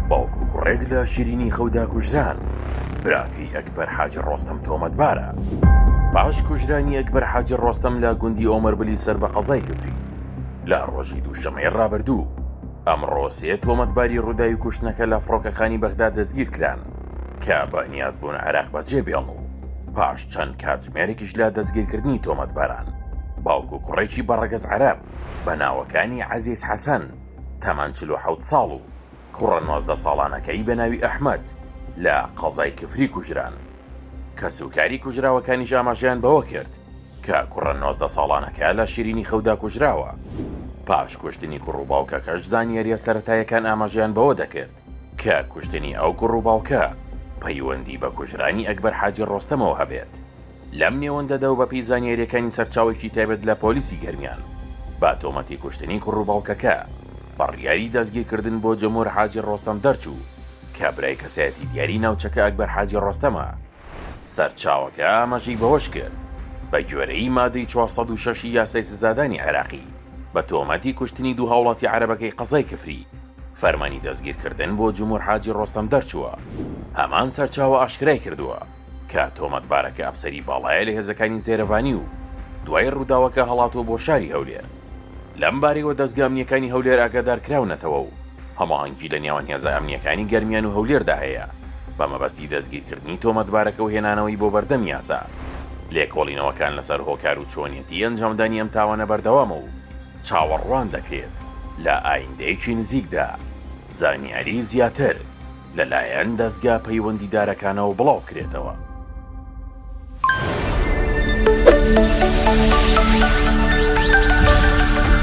باوک و کوڕێک لە شیرینی خەودا کوژران براکەی ئەکبەر حاجی ڕۆستەم تۆمەتبارە پاش کوژرانی ئەکبەر حاجی ڕۆستەم لە گوندی ئۆمەربلی سەر بە قەزای کفری لە ڕۆژی دووشەمەی ڕابردوو ئەمڕۆ سێ تۆمەتباری ڕووداوی کوشتنەکە لە فڕۆکەخانی بەغدا دەستگیر کران کە بە نیازبوون عێراق بەجێ بێڵن و پاش چەند کاتژمێرێکیش لە دەستگیرکردنی تۆمەتباران باوک و کوڕێکی بەڕەگەز عەرەب بە ناوەکانی عەزیز حەسەن تەمەن چل و حەوت ساڵ و کوڕە نۆزدە ساڵانەکەی بە ناوی ئەحمەد لە قەزای کفری کوژران. کەسوکاری کوژراوەکانیش ئاماژەیان بەوە کرد کە کوڕە نۆزدە ساڵانەکە لە شیرینی خەودا کوژراوە. پاش کوشتنی کوڕ و باوکەکەش زانیارییە سەرەتایەکان ئاماژەیان بەوە دەکرد کە کوشتنی ئەو کوڕ و باوکە پەیوەندی بە کوژرانی ئەکبەر حاجی ڕۆستەمەوە هەبێت، لەم نێوەندەدا و بەپێی زانیارییەکانی سەرچاوێکی تایبەت لە پۆلیسی گەرمیان، بە تۆمەتی کوشتنی کوڕ و باوکەکە بڕیاری دەستگیرکردن بۆ جمهور حاجی ڕۆستەم دەرچوو کە برای کەسایەتی دیاری ناوچەکە ئەکبەر حاجی ڕۆستەمە. سەرچاوەکە ئاماژەی بەوەشکرد، بەگوێرەی مادەی چوار سەد و شەش ی یاسای سزادانی عێراقی، بە تۆمەتی کوشتنی دوو هاوڵاتی عەرەبەکەی قەزای کفری، فەرمانی دەستگیرکردن بۆ جمهور حاجی ڕۆستەم دەرچووە. هەمان سەرچاوە ئاشکرایکردووە، کە تۆمەتبارەکە ئەفسەری باڵایە لە هێزەکانی زێرەڤانی و دوای ڕووداوەکە هەڵاتووە بۆ شاری هەولێر. لەم بارەیەوە دەزگا ئەمنییەکانی هەولێر ئاگادارکراونەتەوە و هەماهەنگی لە نێوان هێزە ئەمنییەکانی گەرمیان و هەولێردا هەیە بە مەبەستی دەستگیرکردنی تۆمەتبارەکە و هێنانەوەی بۆ بەردەم یاسا. لێکۆڵینەوەکان لەسەر هۆکار و چۆنیەتی ئەنجامدانی ئەم تاوانە بەردەوامە و چاوەڕوان دەکرێت لە ئایندەیەکی نزیکدا زانیاری زیاتر. لەلایەن دەزگا پەیوەندیدارەکانەوە بڵاوبکرێتەوە.